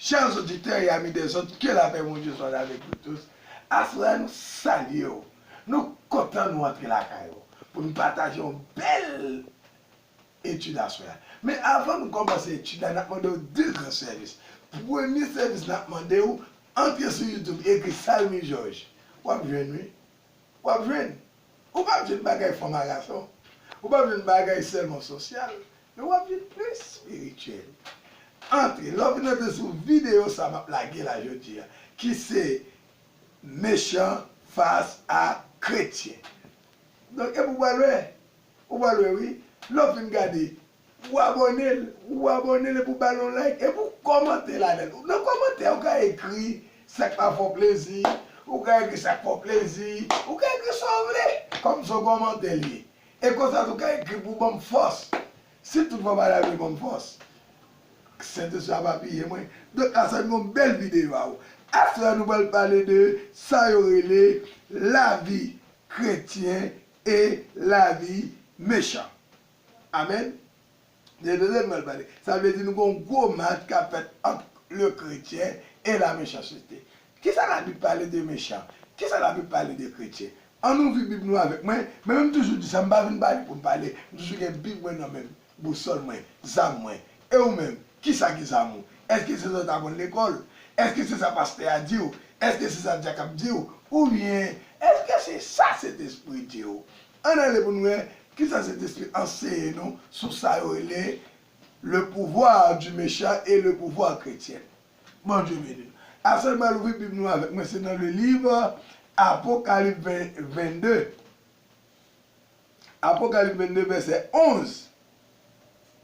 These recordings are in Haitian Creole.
Chers auditeurs et amis des autres que la paix Bondye soit avec nous tous aswè a nou salye w nou kontan nou antre lakay ou pou nou pataje yon bèl etid aswè a. Men avan nou kòmanse etid la, n ap mande w de gran sèvis. Premye sèvis n ap mande w, antre sou YouTube ekri Salmi Jòj. W ap jwenn wi. W ap jwenn. Ou p ap jwenn bagay fò maraton. Ou p ap jwenn bagay sèlman sosyal. Men w ap jwenn plis espirityèl. Antre. Lè w fin antre sou videyo sa m ap lage la jodi a, ki se Mechan fas a kretyen. Donk epi w pral wè. Ou pral wè wi lè w fin gade pou w abòne l pou w abòne l epi w ba l yon like epi w kòmante ladan l nan kòmantè ou ka ekri sa k pa fè w plezi ou ka ekri sa k fè w plezi ou ka ekri sa w vle kòm se yon kòmantè l ye e konsa tou w ka ekri pou w ban m fòs si tout fwa w pa ta vle ban m fòs k sentespri a ap apiye mwen donk a sa n gen yon bèl videyo a ou aswè a nou pral pale de sa yo rele lavi kretyen E lavi mechan. Amen. Se de Daniel map pale. Sa vle di nou gon gwo match kap fèt ant le kretyen e la mechancete. Kisa la bib pale de mechan? Kisa la bib pale de kretyen? Ann ouvri bib nou avèk mwen, men menm toujou di sa m pa vin pale pou m pale, m toujou gen bib mwen nan menm, bousòl mwen, zam mwen. E ou menm? Kisa ki zamou? Eske se sa w t aprann lekòl? Eske se sa pastè a di w? Eske se sa dyak ap di w? Oubyen, eske se sa Sentespri di w? Ann ale pou n wè kisa Sentespri anseye nou sou sa yo rele Le pouvoir du méchant et le pouvoir chrétien. Bondye beni nou. Aswè n pral ouvri Bib nou avèk mwen, se nan le liv Apokalip 22. Apokalip 22 vèsè 11.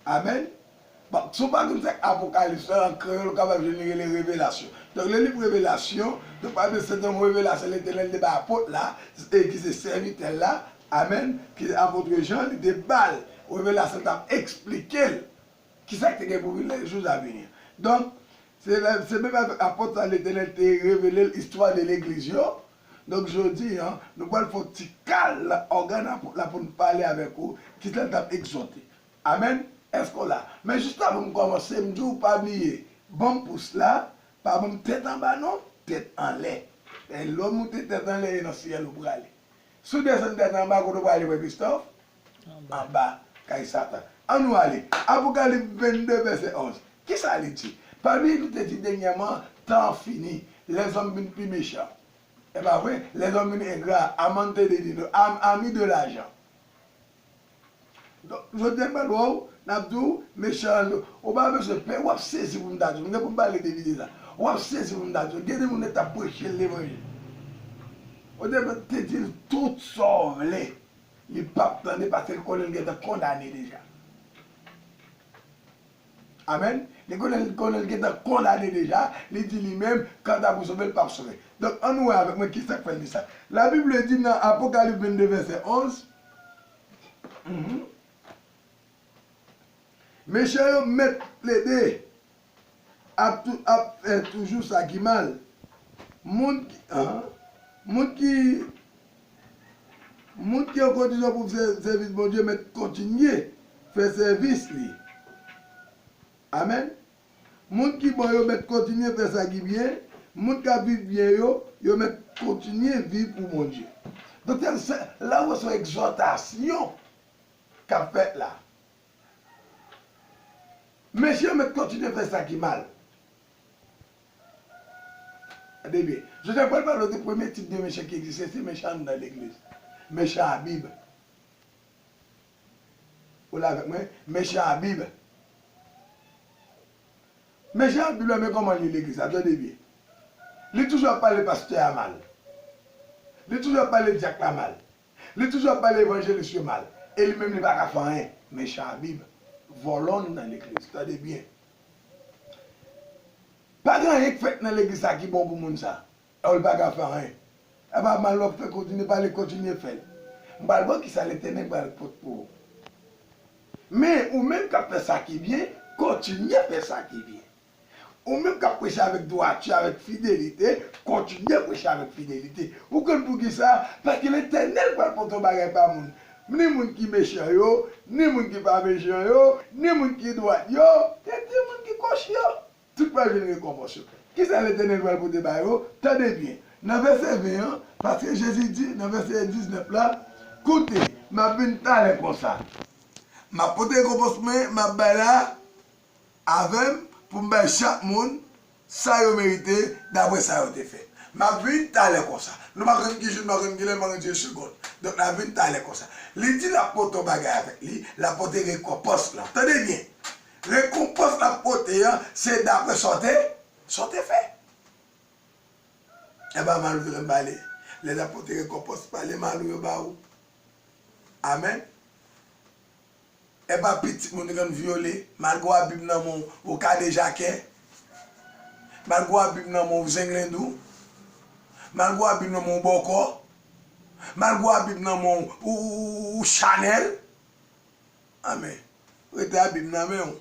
Amen. Bon, si w pa konn sa k Apokalips lan, an kreyòl ou kapab jwenn li rele Revelasyon. Donk lè w li Revelasyon, donk pa bliye se te yon revelasyon Letènèl te bay Apot la, ki se sèvitè l la, amen, ki se Apotre Jan, li te ba l revelasyon k ap esplike l ki sa k te gen pou vini nan jou a vini. Donk, se menm avèk Apot sa Letènèl te revele l istwa 2 legliz yo, Donk jodi an, nou pral fè yon ti kal nan ògàn an la pou n pale avèk ou ki jan l t ap egzòte. Amèn? Èske w la? Men jis avan m kòmanse, m di w pa bliye ban m pous la, pa ban m tèt anba non, tèt anlè. Lè w moute tèt anlè e nan syèl ou prale. Si w desann tèt anba, kote w prale frè Christophe? Anba kay Satan. An nou ale. Apokalip 22 vèsè 11. Ki sa li di? Pami li te di dènyèman, Tan an fini. Lèzòm vin pi mechan. E pa vre? Lèzòm vin engra, amante de dino, ami de lajan. Donk, jodi a n pral wè w, n ap di w, mechan an Ou pa bezwen pè, w ap sezi pou m ta di w. M gen pou m pale de lide sa. W ap sezi pou m ta di w. Gen de moun yo t ap preche l levanjil. Yo te di l tout sa w vle. Li pap tande paske li konnen li gentan kondane deja. Amen. Li konnen li gentan kondane deja, li di li menm kanta pou sove l pap sove. Donk annou wè avèk mwen kisak fè l di sa. La bib le di nan Apokalip 22 vèsè 11, Mechan yo mèt plede ap tou ap fè toujou sa ki mal moun ki an moun ki moun ki an kondisyon pou fè sèvis Bondye mèt kontinye fè sèvis li amen moun ki bon yo mèt kontinye fè sa ki byen moun kap viv byen yo yo mèt kontinye viv pou Bondye doktè se la ou wè son ekzòtasyon kap fèt la. Mesye yo mèt kontinye fè sa ki mal. Tande byen, Joseph pral pale w de premye tip de mechan ki egziste, se mechan anndan legliz. Mechan a Bib. Ou la avèk mwen? Mechan a Bib. Mechan a Bib la men kòman l li legliz la, tande byen. Li toujou ap pale pastè a mal. Li toujou ap pale dyak la mal. Li toujou ap pale evanjelis yo mal e li menm li paka fè anyen. Mechan a bib vòlò nan legliz tande byen pa gen anyen k fèt nan legliz sa ki bon pou moun sa ew li paka fè anyen epa mal wap fè kontinye pale kontinye fèl m pral baw kisa letènèl pral pot pou ou men ou menm kap fè sa ki byen kontinye fè sa ki byen. Ou menm k ap preche avèk dwati, avèk fidelite, kontinye preche avèk fidelite. Ou konn poukisa? Paske Letènèl pral pote yon bagay ba moun, ni moun ki mechan yo, ni moun ki pa mechan yo, ni moun ki dwat yo, e ni moun ki kòchi yo. Tout pral jwenn rekonpans yo. Kisa Letènèl pral pote ba yo? Tande byen, nan vèsè 20 an, paske Jezi di nan vèsè 19 la, Koute, m ap vin talè konsa. M ap pote rekonpans mwen, m ap bay la, avè m pou m bay chak moun sa yo merite dapre sa yo te fè. M ap vin talè konsa. Nou pa konn ki jou, nou pa konn ki lè, nou pa konn ki segond. Donk, n ap vin talè konsa. Li di l ap pote yon bagay avèk li, l ap pote rekonpans lan. Tande byen! Rekonpans l ap pote an, se dapre sa w te, sa w te fè. E pa mal ou te konn pale. Lè n ap pote rekonpans, pale mal ou yo ba ou. Amèn. Epa pitit moun ren vyole. Malgre w a bib nan men w ou kadejakè. Malgre w a bib nan men w ou zenglendou. Malgre w a bib nan men w ou bòkò. Malgre w a bib nan men w ou chanèl. Anmè. Rete a bib nan men w.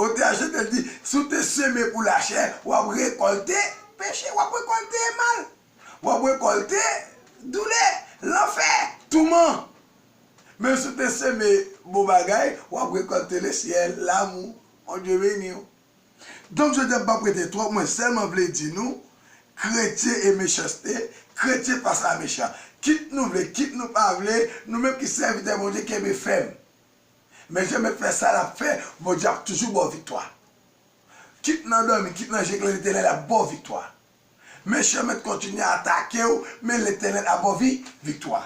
Otè a Jovenel di, si w te seme pou lachè, w ap rekòlte peche, w ap rekòlte mal, w ap rekòlte doulè, lanfè, touman. Men si w te seme bon bagay, w ap rekòlte lesyèl, lamou, Bondye beni w. Donk jodi a m pa prete twòp, mwen sèlman vle di nou, kretyen e mechanste, kretyen fas a mechan. Kit nou vle, kit nou pa vle, nou menm ki sèvitè Bondye kenbe fèm. Mezye met fè sa lap fè Bondye ap toujou baw viktwa kit nan domi kit nan jeklè letenel ap baw viktwa mechan met kontinye atakew men letenel ap baw vi viktwa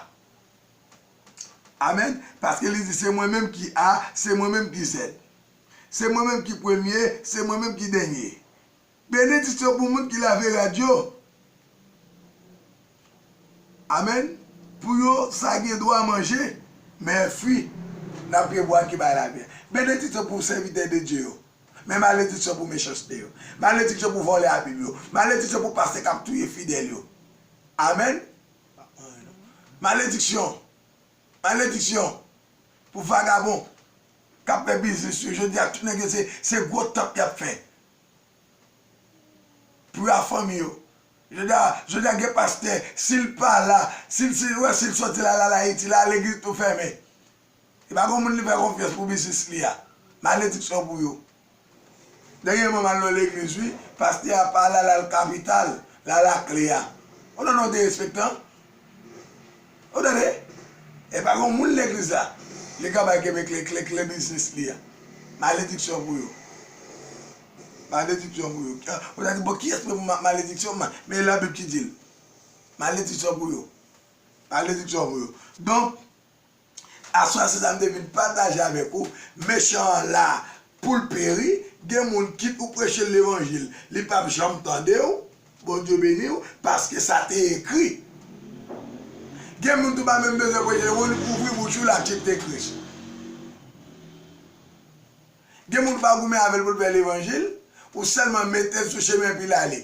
amen paske li di se mwen menm ki a se mwen menm ki zèd se mwen menm ki premye se mwen menm ki dènye. Benediksyon pou moun ki lave rad yo. Amen pou yo sa gen dwa manje men fwi nap gen bwa ki bay lavi. Benediksyon pou sèvitè de Dye yo men malediksyon pou mechanste yo. Malediksyon pou vòlè a bib yo. Malediksyon pou pastè kap touye fidèl yo. Amen malediksyon malediksyon pou vagabon kap fè biznis yo. Jodi a tout nèg yo se gwo tanp yap fè. Pra fanmi yo. Jodha jodha gen pastè sil pa la sil sil wè sil soti la lal ayiti la legliz tou fèmen li pa gon moun li fè konfyans pou biznis li a malediksyon pou yo dènyèman mal nan legliz wi pastè a pa la lal kapital lal a kle a ou nan non derespektan Ou tande? Epa gon moun legliz la, li ka bay kenbe kle, kle, kle biznis li a. Malediksyon pou yo. Malediksyon pou yo. Ou ta di bon kiyès mwen pou malediksyon mwen? Men la bib ki dil. Malediksyon pou yo. Malediksyon pou yo. Donk, Aswè se sa m te vin pataje avèk ou, mechan an la pou l peri, gen moun kit ou preche l levanjil li pap janm tande w, Bondye beni w, paske sa te ekri. Gen moun tou pa menm bezwen preche yo, moun ouvri bouch ou l aksepte Kris. Gen moun ou pa goumen avè l pou l fè levanjil, ou sèlman mete l sou chemen epi l ale.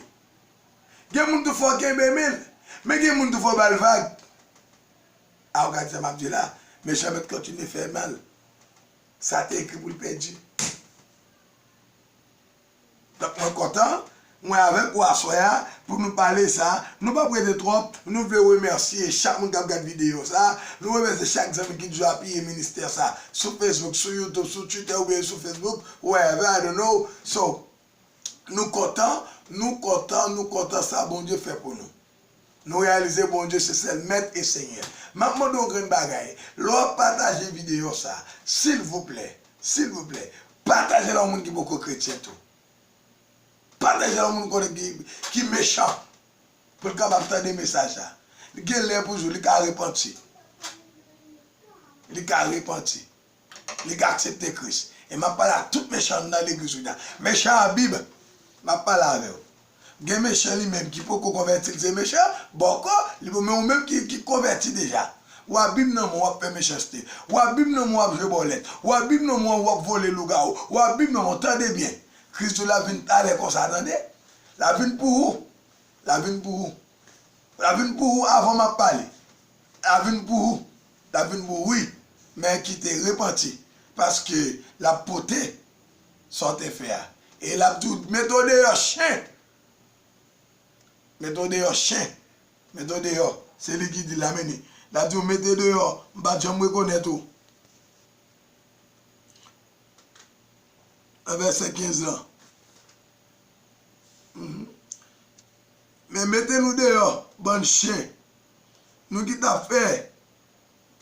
Gen moun tou fò w kenbe men l, men gen moun tou fò w ba l vag. Ah w gad sa map di la, mechan mèt kontinye fè mal, sa te ekri pou l pèdi. Donk mwen kontan, mwen avèk ou aswè a pou nou pale sa, nou pap rete twòp, nou vle remèsye chak moun kap gad videyo sa, nou remèsye chak zanmi ki toujou apiye ministè sa sou Facebook, sou YouTube, sou Twitter oubyen sou Facebook, wherever, I don't know, so nou kontan, nou kontan, nou kontan sa Bondye fè pou nou. Nou reyalize Bondye se sèl mèt e senyè. Map mande yon grenn bagay, lè wap pataje videyo sa, silvouplè, silvouplè, patajel a yon moun ki poko kretyen tou. Patajel a yon moun ou konnen ki, ki mechan, pou l kapab tande mesaj la. Li gen lè pou jou, li ka repanti. Li ka repanti. li ka aksepte Kris. E map pale ak tout mechan nan legliz kounye a. Mechan Abib, map pale avèw. Gen mechan li menm ki poko konvèti li se mechan, bòkò, li poko men ou menm ki konvèti deja. Ou Abib nan men w wap fè mechanste. Ou Abib nan men w wap jwe bòlèt. Ou Abib nan men w wap vole lougawou. Ou Abib nan men w tande byen. Kris di w lap vin talè konsa tande. Lap vin pou ou. Lap vin pou ou. Lap vin pou ou avan map pale. Lap vin pou ou. Lap vin bo wi men kite repanti paske lap pote sa w te fè a e lap di w mete w deyò chen mete w deyò chen mete w deyò se li ki di la meni lap di w mete deyò m pat janm rekonèt ou nan vèsè 15 lan. Men mete nou deyò bann chen nou ki tap fè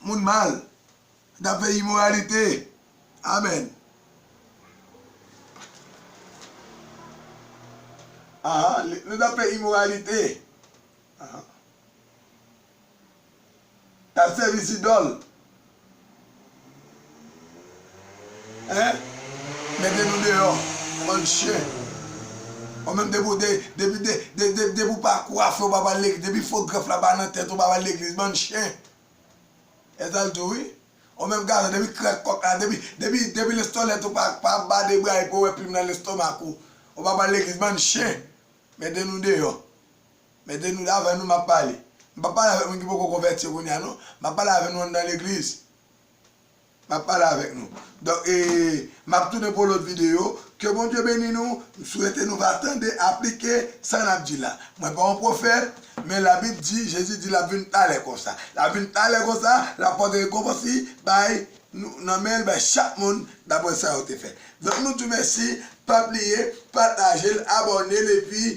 Moun mal nou tap fè imoralite amen. Ahaa nou tap fè imoralite ahaa. Kap sèvi zidòl hein mete nou deyò bann chyen ou menm depi ou depi depi ou pa kwafe ou pa pral legliz depi fo grèf la pa nan tèt ou pa pral legliz bann chyen esal diw wi ou menm gason depi krèk kòk la depi depi depi lestolèt ou pa pa ba de bra epi ou wè plim nan lestomak ou ou pa pral legliz bann chyen mete nou deyò. Mete nou davan nou map pale. M pap pale avèk moun ki poko konvèti yo kounya non. Map pale avè nou anndan legliz. Map pale avèk nou. Donk e map tounen pou lòt videyo. Ke Bondye beni nou. M swete nou va tande, aplike sa nap di la. Mwen pa yon pwofèt, men labib di, Jezi di lap vin talè konsa. Lap vin talè konsa, lap pote rekonpans li bay nou nan menl bay chak moun daprè sa yo te fè. Donk nou di w mèsi, pa bliye patajel, abòne l epi.